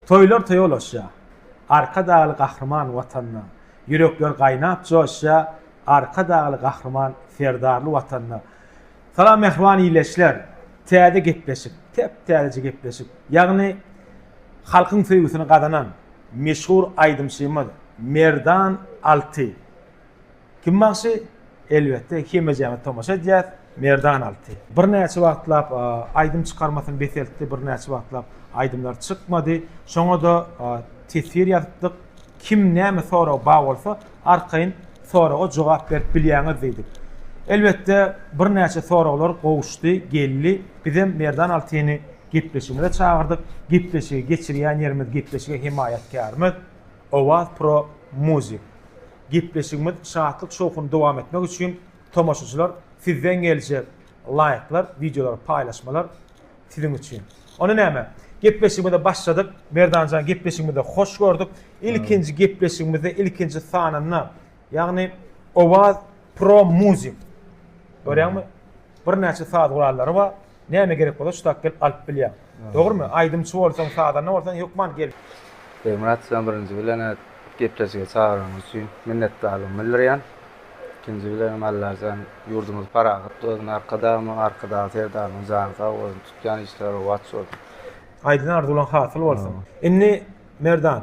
Toýlar toýa ulaşýar. Arkadagly Gahryman Watanda, Ýürekler gaýnap joşýar Arkadagly Gahryman Serdarly Watanda. Salam mähriban illeçler! Täze gepleşik, täp-täzeje gepleşik. Ýagny halkyň söýgüsini gazanan meşhur aýdymçymyz Merdan Alty. Kim bagşy? Elbetde hemejämiz tomaşa edýäs, Merdan Alty. Birnäçe wagtlap aýdym çykarmasyny beseltdi, birnäçe wagtlap aýdymlar çykmady. Şoňa-da teswir ýazypdyk. Kim näme soragy bar bolsa, arkaýyn soraga jogap berip bilýäňiz diýdik. Elbetde birnäçe soraglar gowuşdy, geldi. Bizem Merdan Altyny gepleşigimize çagyrdyk. Gepleşigi geçirýän ýerimiz, gepleşige hemaýatkärimiz Owaz Pro Music. Gepleşigimiz şatlyk-şowhun dowam etmek üçin tomaşaçylar sizden geljek laýklar, wideolary paýlaşmalar siziň üçin. Onda näme? Gepleşigimize başladyk. Merdanjan gepleşigimizi hoş gördük. Ilkinji gepleşigimizde ilkinji sanynda ýagny Owaz Pro Music. Görýäňmi? Birnäçe saz gurallary bar. Näme gerek bolsa şu sak gelip alyp bilýäň. Dogrymy? Aýdymçy bolsaň, sazanda bolsaň hökman gel. Begmyrat size birinji bilen gepleşige çagyranyňyz üçin minnetdarlygymy bildirýän. Ikinji bilenem Allajan ýurdumyzy parahat bolsun, Arkadagymyň, Arkadag Serdarymyň jany sag bolsun, tutýan işleri rowaç bolsun. Aýdan arzuwlaň hasyl bolsun. Indi Merdan,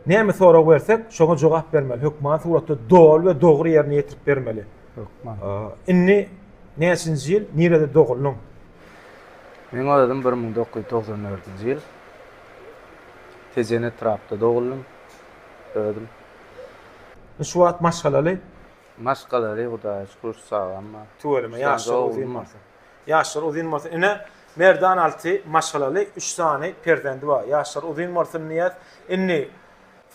näme sorag bersek, şoňa jogap bermeli, hökman suratda doly we dogry ýerine ýetirip bermeli. Hökman. Indi näçinji ýyl, nirede doguldun? Men özüm bir müň dokuz ýüz togsan dördünji ýyl Tejen etrapda doguldum özüm. Şu wagt maşgalaly? Maşgalaly Hudaýa şükür çagam bar. Tüweleme ýaşlar uzyn bolsun. Ýaşlar uzyn bolsun. Ine Merdan Alty maşgalaly üç sany perzendi bar. Ýaşlar uzyn bolsun diýýäs. Indi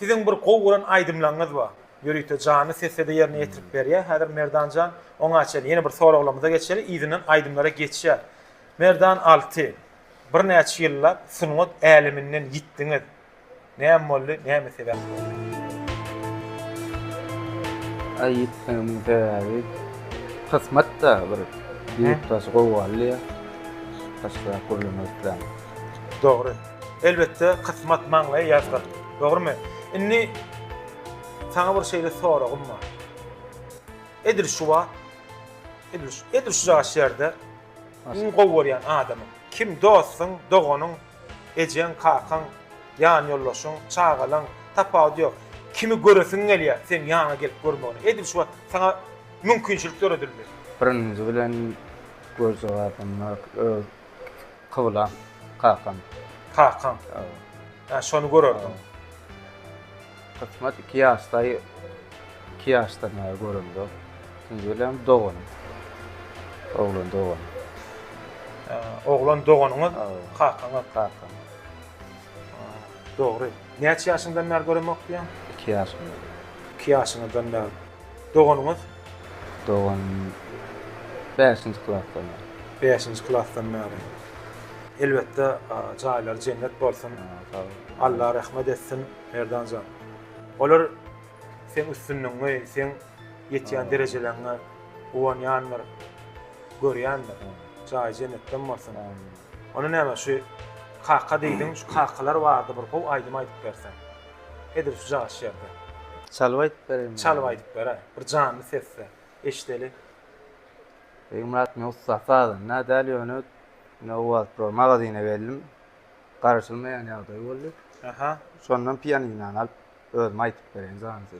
siziň bir gowy gören aýdymlaryňyz bar. Ýörite janly sessiýada ýerine ýetirip berýär. Häzir Merdan jan, oňa çenli ýene bir soraglarymyza geçeli, yzyndan aýdymlara geçýär. Merdan Alty, birnäçe ýyllap sungat äleminden ýitdiňiz. Näme boldy, näme sebäp boldy? Aý ýitmegimiň sebäbi kysmat-da bir ýurtdaş gowy galdy ýa. Başga gürlemek islämok. Dogry. Elbetde kysmat maňlaýy ýazgyr. Dogrymy? Indi saňa bir şeýle soragym bar. Edil şu wagt edil şu edil şu jaş ýerde iň gowy görýän adamyň kim dostuň, doganyň, ejeň, kakaň, ýan ýoldaşyň, çagalaň tapawudy ýok. Kimi göresiň gelýär seň ýanyňa gelip görmegine. Edil şu wagt saňa mümkinçilik döredildi. Birinji bilen göz jogabym bar. Öz Kyblam, kakam. Kakaň. Hawa. Ýa şony görerdim. Kysmat iki ýaşdaý, iki ýaşdan bäri göremzok. Ikinji bilen doganym. Oglan doganym. Oglan doganyňyz kakaňyz. Kakam. Dogry. Näçe ýaşyňdan bäri göremok diýýäň? Iki ýaşymdan. Iki ýaşyňyzdan bäri. Doganyňyz? Doganym bäşinji klasdan bäri. Bäşinji klasdan bäri. Elbetde, jaýlary jennet bolsun. Sag bol. Alla rehmet etsin, Merdan jan. Olar seň üstünligiňe, seň ýetýän derejeleňe guwanýandyr, görýändir. Jaýy jennetden bolsun. Onda näme, şu kaka diýdiň, şu kakalar barada bir gowy aýdym aýdyp berseň. Edil şu jaş ýerde. Çalyp aýdyp bereýin. Çalyp aýdyp beräý. Bir janly sesde. Eşideli. Begmyrat men ussat sazanda däl ýöne ine owaz pro magazyna geldim. Garaşylmaýan ýagdaý boldy. Aha. Şondan pianinany alyp özüm aýdyp bereýin janly sesde.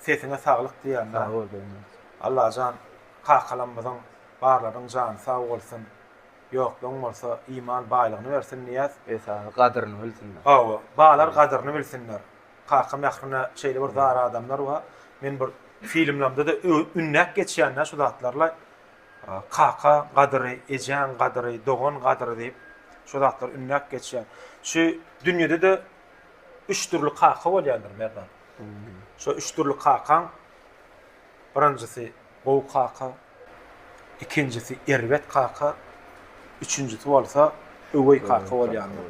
Sesiňe saglyk diýýän. Sag bol dogny. Allajan kakalamyzyň barlarynyň jany sag bolsun ýokluň bolsa iman baýlygyny bersin Niýaz. Esasy gadyryny bilsinler. Hawa balar gadyryny bilsinler. Kaka Mährine şeýle bir zar adamlar bar. Men bir filmlerimde-de ünläp geçýänä şu zatlarla kaka gadyry, ejäň gadyry, dogan gadyry diýip şu zatlary ünläp geçýän. Şu dünýede-de üç dürli kaka bolýandyr Merdan. Şo üç dürli kakaň birinjisi gowy kaka, ikinjisi erbet kaka, üçünjisi bolsa öweý kaka bolýandyr.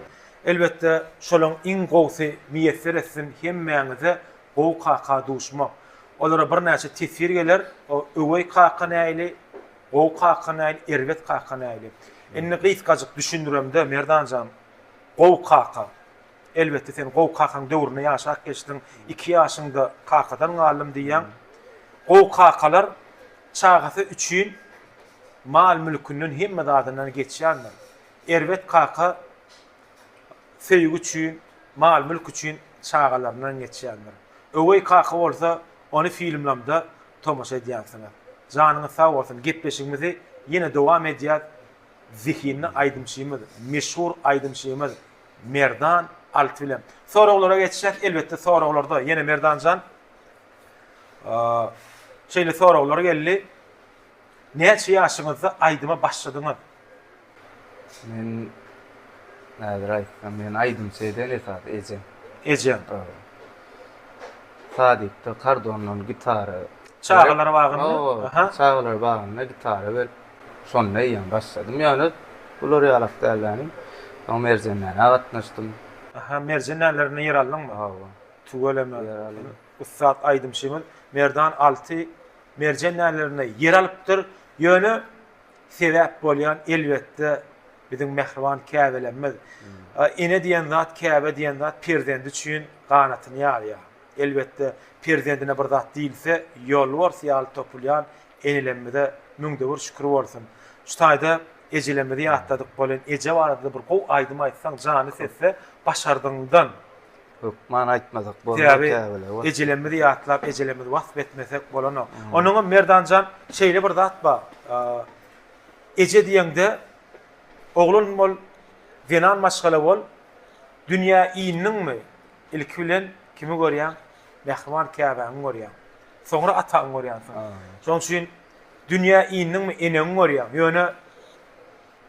Elbetde, şolaryň iň gowusy miýesser etsin hemmäňize gowy kaka duşmak. Olara birnäçe teswir geler, o öweý kaka näili, gowy kaka näili, erbet kaka näili. Indi gysgajyk düşündiremde, Merdan jan, Gowy kaka. Elbetde sen gowy kakaň döwrüni ýaşap geçdiň, iki ýaşyňda kakadan galdym diýýäň. Gowy kakalar çagasy üçin mal-mülkünden hemme zadyndan geçýändir. Erbet kaka söýgi üçin, mal-mülk üçin çagalaryndan geçýändir. Öweý kaka bolsa ony filmlamda tomaşa edýänsiňiz. Janyňyz sag bolsun. Gepleşigimizi ýene dowam edýäs. Zehinli aýdymçymyz, meşhur aýdymçymyz Merdan Alty bilen soraglara geçýäs. Elbetde soraglarda ýene Merdanjan şeýle soraglar geldi. Näçe ýaşyňyzda aýdyma başladyňyz? Men häzir aýtsam, meni aýdymçy eden esasy ejem. Ejeň. Sadykda kardondan gitara. Çagalar bagyny. Çagalar bagyna gitara berip. Şonda eýýäm başladym ýöne bular ýalak dälläni. Soň merjenlere gatnaşdym. Aha merjenlerine ýer aldyňmy? Hawa. Tüweleme. Ýer aldym. Ussat aýdymçymyz Merdan Alty merjenlerine ýer alypdyr. Ýöne sebäp bolýan elbetde biziň mähriban käbelerimiz. Ene diýen zat, käbe diýen zat perzendi üçin ganatyny ýazýar. Elbetde, perzendine bir zat diýilse, ýolbars ýaly topulýan enelerimize müňde bir şükür bolsun. Şu taýda ejelerimizi ýatladyk bolýan eje barada-da bir gowy aýdym aýtsaň jany setse başardygyňdan. Köp many aýtmasak bolmaz kä bile. Sebäbi ejelerimizi ýatlap ejelerimizi wasp etmesek bolanok. Onuňam Merdanjan şeýle bir zat bar. Eje diýeňde oglan bol, zenan maşgala bol, dünýä indiňmi, Ilki bilen kimi görýäň? Mähriban käbäňi görýäň. Soňra ataňy görýänsiň. Şonuň üçin dünýä indiňmi, eneňi görýäň. Ýöne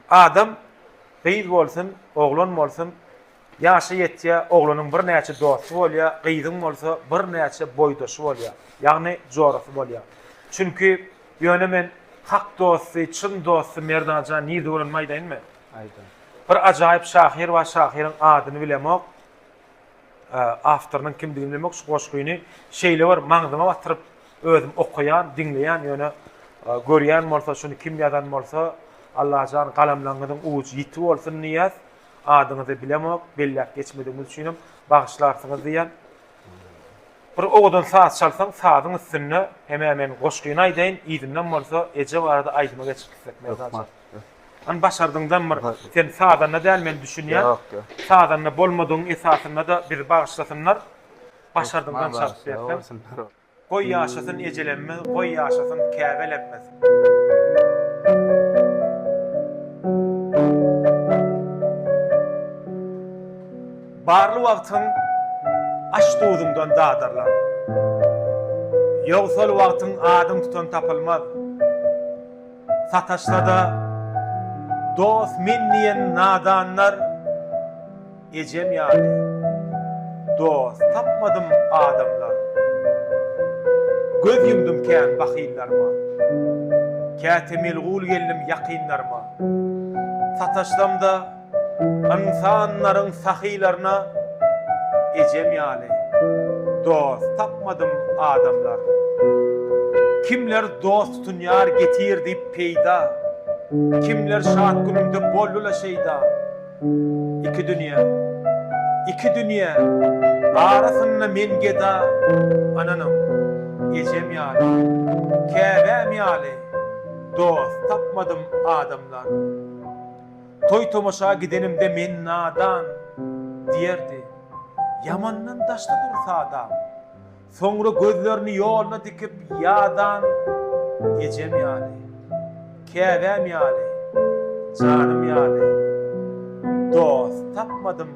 adam gyz bolsun, oglan bolsun, ýaşy ýetýär, oglanyň birnäçe dosty bolýar, gyzyň bolsa birnäçe boýdaşy bolýar, ýagny jorasy bolýar. Çünki ýöne men hak dosty, çyn dosty Merdan jan nirde görenimi aýdaýynmy? Aýda. Bir ajaýyp şahyr bar, şahyryň adyny bilemok. Awtorynyň kimdigini bilmek şu goşgyny şeýle bir maňzyma batyryp özüm okaýan, diňleýän ýöne görýän bolsa şuny kim ýazan bolsa Allajan galamlaňňyzyň ujy ýiti bolsun Nyýaz adyňyzy bilemok belläp geçmedigiňiz üçinem bagyşlarsyňyz diýýän. Bir owadan saz çalsaň sazyň üstünde hemä men goşgyny aýdaýyn yzyndan bolsa eje barada aýdyma geçip gitsek Merdanjan. Hany başardyňdan bir sen sazanda däl men düşünýän. Ýok ýok. Sazanda bolmadygyň esasynda da bizi bagyşlasynlar. Başardyňdan çalyp berseň. Goý ýaşasyn ejelemmiz goý ýaşasyn käbelemmiz. Barly wagtyň aş-duzuňdan dadarlan. Ýogsal wagtyň adyň tutan tapylmaz. sataşsa-da, dost men diýen nadanlar ejem ýaly dost tapmadym adamlar göz ýumdum kän bahyllaryma käte melgul geldim ýakynlaryma sataşsam-da Ynsanlaryň sahylaryna ejem ýaly dost tapmadym adamlar kimler dost tutunýar getir diýip peýda kimler şat günümde boldyla şeýda iki dünýe iki dünýe arasynda men geda ynanyň ejem ýaly käbäm ýaly dost tapmadym adamlar. Toý-tomaşa gidenimde men nadan, diýerdi. Ýamandan daşda dur sadam. Soňra gözlerini ýoluna dikip ýadan ejem ýaly, käbäm ýaly, janym ýaly dost tapmadym.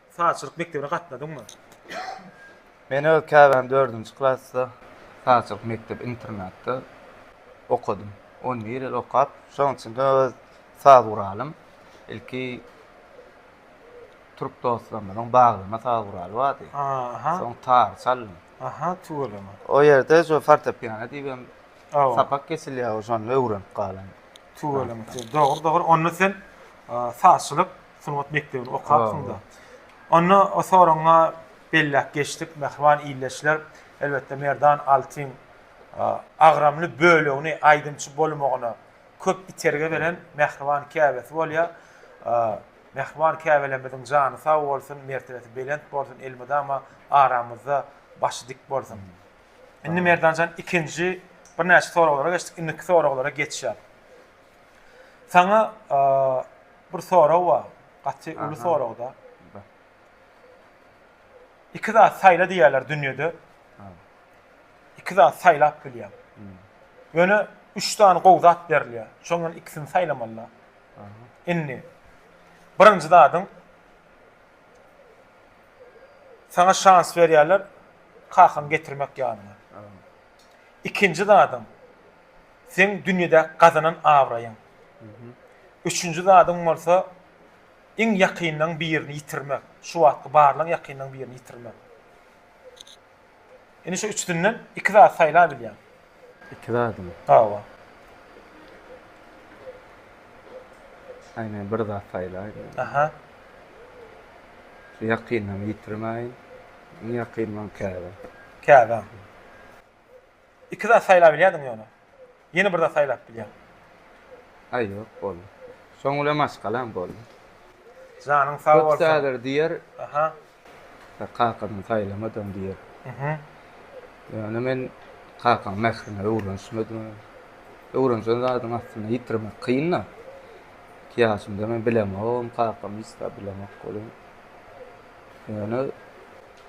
Sazçylyk mekdebine gatnadyňmy? Men öz käbäm dördünji klasda sazçylyk mekdep internatda okadym. On bir ýyl okap, şonuň içinde öz saz guralym, ilki türk dostlarymyzyň baglama saz guraly bardy. Aha. Soň tar çaldym. Aha, tüweleme. O ýerde şu fortepiano diýibem Aw. sapak geçilýär, şony öwrenip galan. Tüweleme. Dogry, dogry. Onda sen a, sazçylyk Sungat mekdebini okapsyň-da. Onda o soragyňa belläp geçdik, mähriban ildeşler. Elbetde, Merdan Altyn agramly bölegini aýdymçy bolmagyna köp itergi beren mähriban käbesi bolýar. Mähriban käbelerimiziň jany sag bolsun, mertebesi belent bolsun, elmydama aramyzda başy dik bolsun. Indi Merdan jan, ikinji birnäçe soraglara geçdik. Indiki soraglara geçýäs. Saňa bir sorag bar. Gaty uly soragda. Iki zat saýla diýýärler dünýede. Iki zat saýlap bilýär. Ýöne üç sany gowy zat berilýär. Şoňdan ikisini saýlamalylar. Indi birinji zadyň sana şans berýärler, kakan getirmek ýalyna. Ikinji zadyň Seň dünýede gazanan abraýyň. Üçünji zadyň bolsa iň ýakynlaň birini ýitirmek. Şu wagtky barlaň ýakynlaň birini ýitirmek. Indi şu üçüsinden iki zat saýla bilýäň. Iki zadymy? Hawa. Aý men bir zat saýlaýyn. Aha. Ýakynlaň ýitirmäýin. Iň ýakynlaň käbä. Käbä. Iki zat saýlabilýärdiň ýöne. Ýene bir zat saýlap bilýäň. Aý ýok boldy. Şoň bilen maşgalam boldy. Janyň sag bolsun. Köp zady diýer. Aha. Ýa kakadan saýlamadym diýer. Mhm. Ýöne men kakaň mährine öwrenişmedim. Öwrenişen zadyň aslynda ýitirmek kyn-da. Iki ýaşymda men bilemogam kakamy hiç zat bilemok welin. Ýöne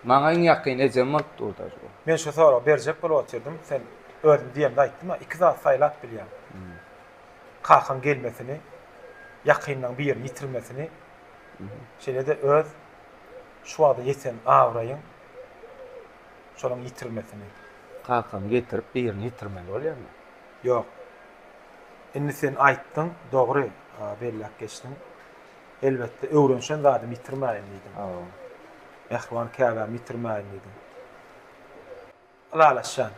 Maňa iň ýakyn ejem bolup durdy ajy. Men şu soragy berjek bolup otyrdym, sen özüň diýemde aýtdym-a, iki zat saýlap bilýäň. Kakaň gelmesini, ýakynlaň birini ýitirmesini, şeýle-de öz şu wagta ýeten abraýyň şonuň ýitirilmesini. Kakamy getirip birini ýitirmeli bolýarmy? Ýok. Indi sen aýtdyň, dogry belläp geçdiň. Elbetde, öwrenişen zadymy ýitirmäýin diýdim. Mähriban käbämi ýitirmäýin diýdim. Ylalaşýan.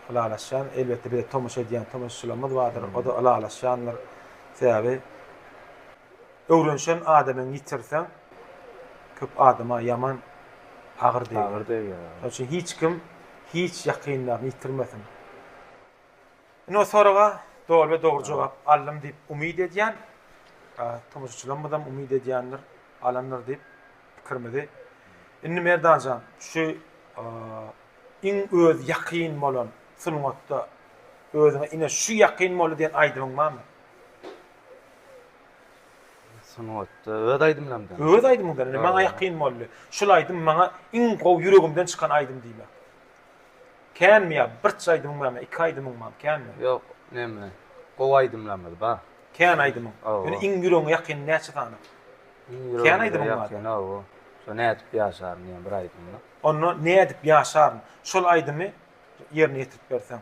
Ylalaşýan. Elbetde, bize tomaşa edýän tomaşaçylarymyz bardyr. O-da ylalaşýandyr. Sebäbi öwrenişen adamyňy ýitirseň, köp adama ýaman agyr degýär. Agyr degýär. Şonuň üçin hiç kim hiç ýakynlaryny ýitirmesin. Ine soraga doly we dogry jogap aldym diýip umyt edýän. Tomaşaçylarymyzam umyt edýändir, alandyr diýip pikirimizi. Indi Merdanjan, şu iň öz ýakyn bolan sungatda özüňe ine şu ýakyn boldy diýen aýdymyň barmy? Sungatda öz aýdymlarymdan. Öz aýdymyňdan indi maňa ýakyn boldy. Şul aýdym maňa iň gowy ýüregimden çykan aýdym diýmek. Känmi ýa birç aýdymyň barmy, iki aýdymyň barmy, känmi? Ýok, neme, gowy aýdymlarymyz bar. Kän aýdymyň? Ýöne iň ýüregiňe ýakyn näçe sany? Iň ýüregiňe ýakyn, hawa. Şo Nädip ýaşaryn diýen bir aýdymymy. Onda Nädip ýaşaryn şol aýdymy ýerine ýetirip berseň.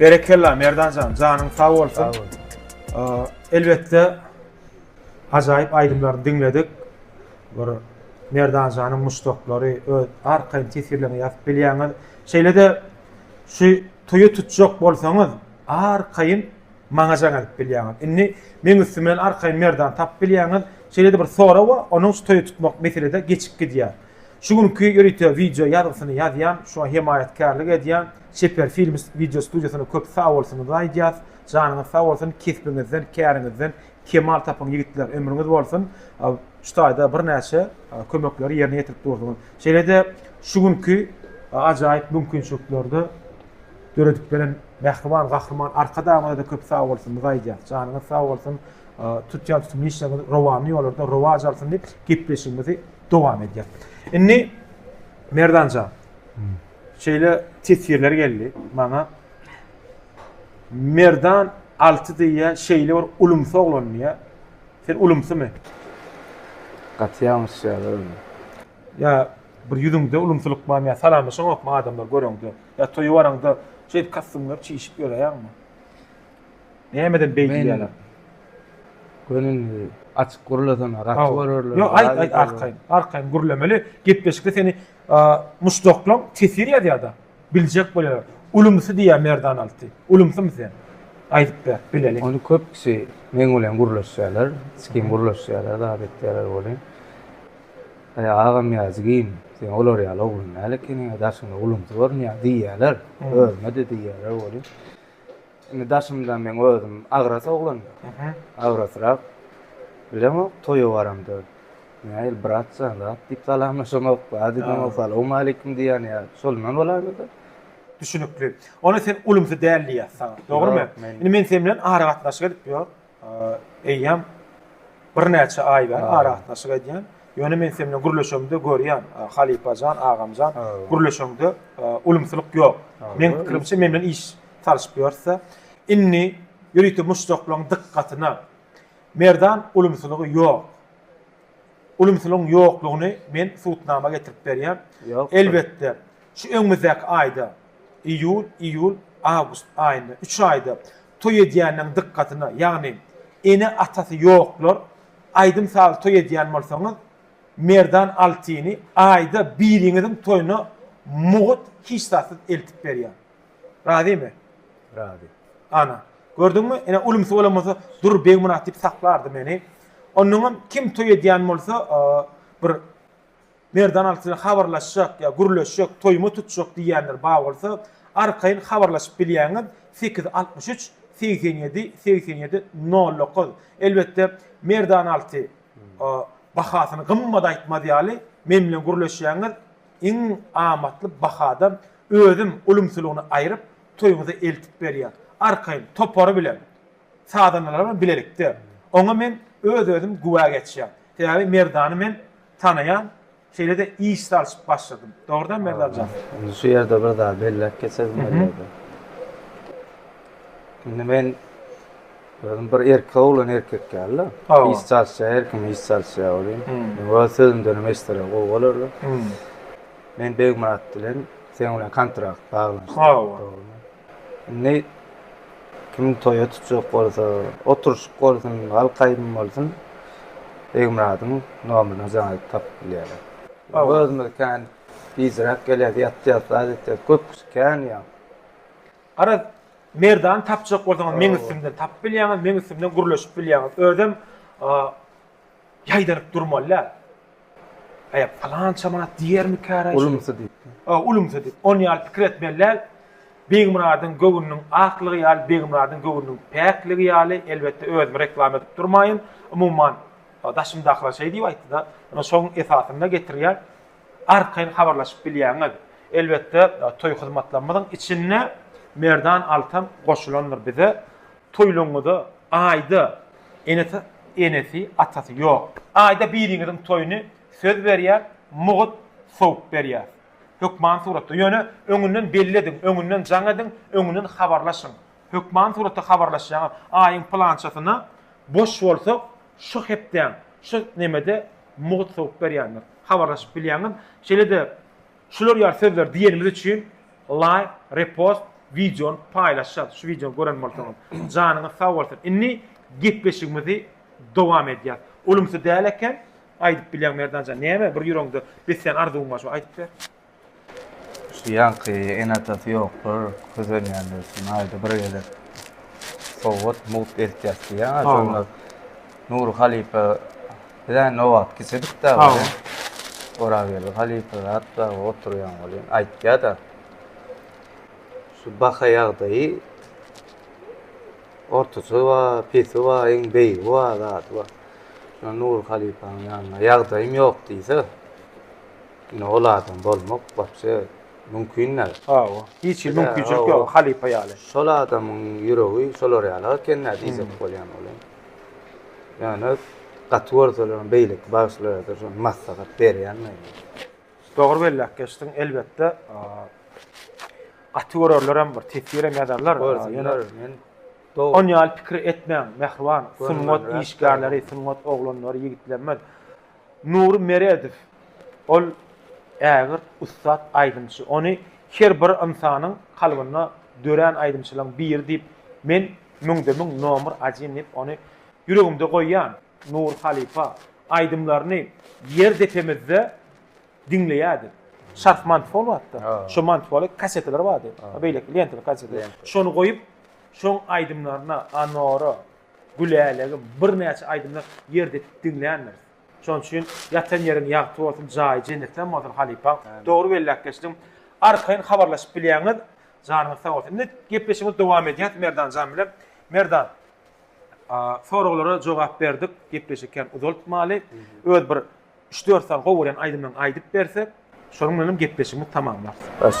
Berekella Merdanjan, janyň sag bolsun. Sag bol. Elbetde ajaýyp aýdymlaryny diňledik. Bir Merdanjanyň muşdaklary öz arkaýyn tesirlerini ýazyp bilýäňiz. Şeýle-de şu toýy tutjak bolsaňyz, arkaýyn Maňa jaň edip bilýäňiz. Indi meň üstüm bilen arkaýyn merdan tapyp bilýäňiz. Şeýle-de bir sora we onuň stoýa tutmak meselede geçip gidýär. Şu günki ýörite wideo ýazgysyny ýazýan, şuňa hemaýatkärlik edýän Çeper Films wideo studiýasyna köp sagbolsunyňyzy aýdýas. Janyňyz sag bolsun, kesbiňizden, käriňizden kemal tapyň ýigitler, ömrüňiz bolsun. Şu taýda birnäçe kömekleri ýerine ýetirip durduňyz. Şeýle-de şu günki ajaýyp mümkinçiliklerde Döredip beren mähriban gahryman Arkadagymyza-da köp sag bolsun, biz aýdýas. Janyňyz sag bolsun. Tutýan tutumly işleriňiz rowanly ýollarda rowaç alsyn diýip, gepleşigimizi dowam edýäs. Indi Merdanjan, şeýle teswirler geldi maňa. Merdan alty diýýär, şeýle bir ulumsy oglan diýýär. Sen ulumsymy? Gaty ýalňyşýar özüm. Ýa bir ýüzüňde ulumsylyk barmy ýa salamlaşaňokmy adamlar göreňde? Ýa toýa baraňda şeýdip kostýumlar çişip ýöräýäňmi? Nämeden beý diýýäler? Gönüni açyk gürlesene, gaty görerler. Ýok, aýt, aýt, arkaýyn, arkaýyn gürlemeli. Gepleşikde seni muşdaklaň tesir ýazýar-da, biljek bolýarlar. Ulumsy diýýär Merdan Alty. Ulumsymy sen? Aýdyp ber, bileliň. Ony köpüsi meň bilen gürleşýärler, sikim gürleşýärler, zat etýärler welin. Äý, agam Ýazigim, sen olar ýaly oglan däl ekeniň-ä, daşyňda gulumsy görünýär diýýärler. Özüme-de diýýärler welin, indi daşymda meň özüm agras oglan, agrasrak. Bilemok, toýa baramda, Näil, brat jan, zat diýip salamlaşamok, bady diýemok, salawmaleýkim diýýän ýa şondan bolarmydy? Düşnükli. Onda sen gulumsy däl diýýär saňa, dogrumy? Indi men sen bilen aragatnaşyk edip ýör. Eýýäm birnäçe aý bäri aragatnaşyk edýän. Ýöne men sen bilen gürleşemde görýän, halypa jan, agam jan, gürleşeňde ulumsylyk ýok. Meň pikirimçe, men bilen iş salyşyp ýörse, indi ýörite muşdaklaryň dykgatyna Merdan ulumsylygy ýok. Ulumsylygyň ýoklugyny men subutnama getirip berýän. Elbetde, şu öňümizdäki aýda, iýul, iýul, awgust aýynda, üç aýda toý edýänleň dykgatyna, ýagny ene-atasy ýoklar, aýdym-saz toý edýän bolsaňyz, Merdan Altyny aýda biriňiziň toýuna mugt hiç zatsyz eltip berýär. Razymy? Razy. Ana, gördüňmi, ine ulumsy bolan bolsa dur Begmyrat diýip saklardy meni. Onnoňam kim toý edýän bolsa, bir Merdan alty bilen habarlaşjak ýa gürleşjek, toýuma tutjak diýýänler bar bolsa, arkaýyn habarlaşyp bilýäňiz, sekiz altmyş üç, segsen ýedi, segsen ýedi, nol dokuz. Elbetde, Merdan alty bahasyny gymmat aýtmaz ýaly, men bilen gürleşýäňiz, iň amatly bahada özüm ulumsylygyny aýryp, toýuňyza eltip berýän. Arkaýyn, topary bilen. sazandalar bilen bilelikde. Oňa men öz-özüm güwä geçýän. Sebäbi Merdany men tanaýan, şeýle-de iş salşyp başladym. Dogrudanam Merdan jan? Indi şu ýerde bir zat belläp geçesim gelýärdi. Indi men özüm bir erkek oglan erkek ýaly-da. Hawa. Iş çalyşýar, her kim iş çalyşýar welin, öz sözümdenem eşdeler gowy bolardy. Men Begmyrat bilen seň bilen kontrakt bagladyk. Hawa. Indi kim toýa tutjak bolsa, oturyşyk bolsun, halk aýdymy bolsun, Begmyradyň nomerini jaňaýyp tapyp bilýärler. Hawa. Özümiz kän gijräk gelýäs, ýatýas, zat etýäs, köp kişi kän ýaň. Garaz, merdany tapjak bolsaňyz, meň üstümden tapyp bilýäňiz, meň üstümden gürleşip bilýäňiz. Özem Ýaýdanyp durmaly däl. Aýa palança manat diýermikäraý? Ulumsy diýip. O, ulumsy diýip. Ony ýaly pikir etmeli däl. Begmyradyň göwnüniň aklygy ýaly, Begmyradyň göwnüniň päkligi ýaly, elbetde, özümi reklama edip durmaýyn. Umuman, daşymdakylar şeý diýip aýtdy-da, ine, şoň esasynda getirýän. Arkaýyn habarlaşyp bilýäňiz. Elbetde, toý hyzmatlarymyzyň içinde Merdan Altan goşulandyr bize. Toýlaryňyza aýda enesi enesi atasy ýok aýda biriňiziň toýuny söz berýär mugut sowup berýär hökman suratda ýöne öňünden belli ediň öňünden jaň ediň öňünden habarlaşyň hökman suratda habarlaşýaňyz aýyň pylançasyna boş bolsak şu hepdäň şu nemede mugut sowup berýändir habarlaşyp bilýäňiz şeýle-de Şular ýaly sözler diýenimiz üçin laýk, repost, wideony paýlaşýas. Şu wideony gören bolsaňyz, janyňyz sag bolsun. Indi gepleşigimizi dowam edýäs. Ulumsy däl eken, aýdyp bilýäň Merdanjan. Näme bir ýüregiňde beslän arzuwyň bar, şo aýdyp ber. Şu ýaňky ene-atasy ýoklar, kösenýänler üçin aýda bir gezek sowgat, mugt eltýäs diýýäň-ä, şonda Nury halypa Bizä nobat kiçidik da. Hawa. Orageldi halypa zat da oturýan bolýan. Aýtýa-da. Şu baha ýagdaýy ortaça we pesi we iň beýigi we zady we. Şuna Nury halypanyň ýanyna ýagdaýym ýok diýse. Ine ol adam bolmak wapşe mümkin däl. Hawa. Hiç hili mümkinçilik ýok halypa ýaly. Şol adamyň ýüregi şolar ýaly ekeni diýjek bolýan bolýan. Ýöne gaty görselerem beýleki bagşylara-da şony maslahat berýän men. Dogry belläp geçdiň, elbetde gaty görenlerem bir teswirem ýazarlar. Görsünler, men dogry. Ony ýaly pikir etmäň, mähriban sungat işgärleri, sungat oglanlary, ýigitlerimiz. Nury Meredow, ol ägirt ussat aýdymçy. Ony her bir ynsanyň kalbynda dörän aýdymçylaryň biri diýip men Müňde-müň nomer ajin diýip ony ýüregimde goýýan Nur halypa aýdymlaryny ýer depemizde diňleýädik. Şarf manty bol wagtda. Şo manty boly kaseteler bardy. Beýleki lentaly kaseteler. Şony goýup şoň aýdymlaryna Anora, Gülälegim birnäçe aýdymlar ýer depip diňländiris. Şonuň üçin ýatan ýeriň ýagty bolsun jaýy jennetden bolsun halypaň. Dogry belläp geçdiň. Arkaýyn habarlaşyp bilýäňiz. Janyňyz sag bolsun. Indi gepleşigimizi dowam edýäs Merdanjan bilen. Merdan, soraglara jogap berdik, gepleşik hem uzaltmaly. Öz bir 3-4 sany gowy gören aýdymlaryňy aýdyp bersek, şonuň bilen hem gepleşigimizi tamamlarys.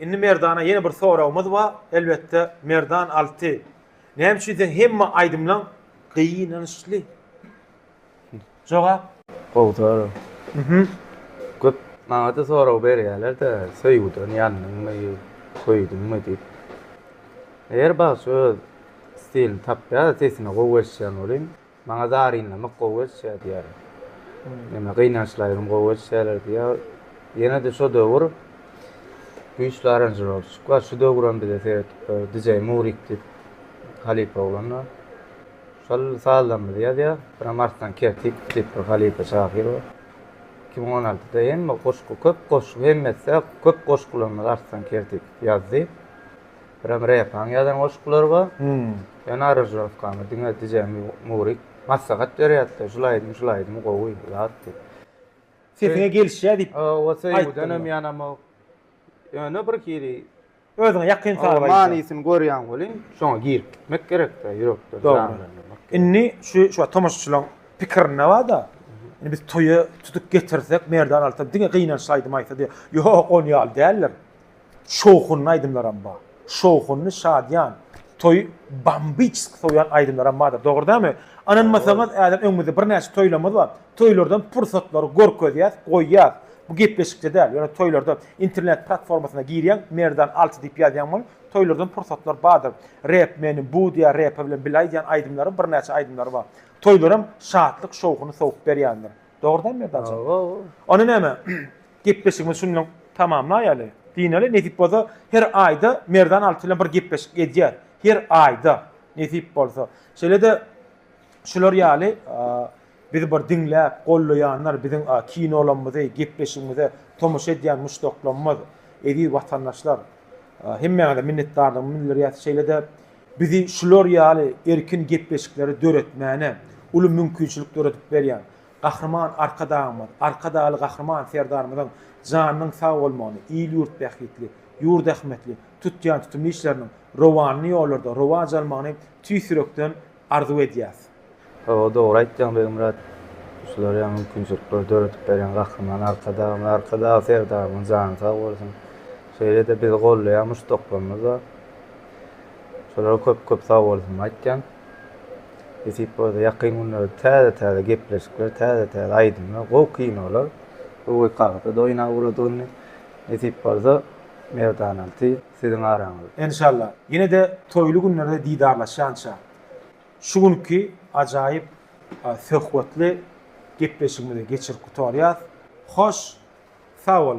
Indi Merdana ýene bir soragymyz bar, elbetde, Merdan Alty, näme üçin seň hemme aýdymlaň gynançly? Jogap? Gowy sorag. Köp maňada sorag berýärler-de, söýgüden ýandyňmy, söýdüňmi diýip. Her bagşy öz stilini tapýar, sesine gowy eşidýän welin, Maňa zarynlamak gowy gelişýär diýýärin. Ýöne gynançly aýdym gowy gelişýärler diýýär. Ýene-de şo döwür güýçli aranžirowşçik bar. Şu döwür hem bize seredip dur. DJ Murik diýip halypa oglan bar. Şol sazlarymyzy ýazýar. Bir hem Arslan Kertik diýip bir halypa şahyr bar. Iki müň on altyda hemme goşgy, köp goşgy, hemmesi-ä köp goşgularymyzy Arslan Kertik ýazdy. Biram repaň ýazan goşgular bar. Ýöne aranžirovkamy diňe DJ Murik maslahat berýärdi-de, şul aýdym, şul aýdym gowy ýaz diýip. Sesiňe gelişýär diýip. Hawa, söýgüden hem ýanamok. Ýöne bir hili. Özüňe ýakyn saz aýdýar. Manysyny görýän welin, şoňa girip gitmek gerek-de, ýürekden janlandyrmak gerek. Indi şu şu wagt tomaşaçylaryň pikirinde bar-da, indi biz toýa tutup getirsek, Merdan Altan diňe gynançly aýdym aýtsa diýip. Ýok, ony ýaly däldir. şowhunly aýdymlaram bar. Şowhunly, şadyýan, toýy bambiçski sowýan aýdymlaram bardyr. Dogry dälmi? Ynanmasaňyz, häzir öňümizde birnäçe toýlarymyz bar. Toýlardan pursatlary görkezýäs, goýýas. Bu gepleşikde däl, ýöne toýlarda internet platformasyna girýäň, Merdan alty diýip ýazýaň boluň, toýlardan pursatlar bardyr. Rep meni bu diýýär, Repe bilen bile aýdýan aýdymlary, birnäçe aýdymlary bar. Toýlaram şatlyk şowhuny sowup berýändir. Dogry dälmi Merdan jan? Hawa. Onda näme? Gepleşigimizi şun bilen tamamlaýaly. Dynali nesip bolsa her aýda Merdan Alty bilen bir gepleşik edýär. Her aýda nesip bolsa. Şeýle-de şular ýaly bizi bir diňläp, gollaýanlar, biziň kinolamyzy, gepleşigimize tomaşa edýän muşdaklarymyz, eziz watandaşlar, hemmäňize minnetdarlygymy bildirýär. Şeýle-de bizi şular ýaly erkin gepleşikleri döretmäne uly mümkinçilik döredip berýän Gahryman Arkadagymyz, Arkadagly Gahryman Serdarymyzyň janynyň sag bolmagyny, il-ýurt bähbitli, ýurt ähmiýetli tutýan tutumly işleriniň rowanly ýollarda rowaç almagyny tüýs ýürekden arzuw edýäs. Hawa dogry aýtýaň Begmyrat. Şular ýaly mümkinçilikleri döredip berýän Gahryman Arkadagymyz, Arkadagly Serdarymyzyň jany sag bolsun. Şeýle-de bizi gollaýan muşdaklarymyz bar. Şolara köp-köp sagbolsunlar aýtýan. Nesip bolsa ýakyn günlerde täze-täze gepleşikler, täze-täze aýdymlar, gowy kinolar, gowy kagtyd oýna ugradygynny nesip bolsa Merdanalty siziň araňyz. Enşalla. Ýene-de toýly günlerde didarlaşýança şu günki ajaýyp söhbetli gepleşigimizi geçirip gutarýas. Hoş sag boluň.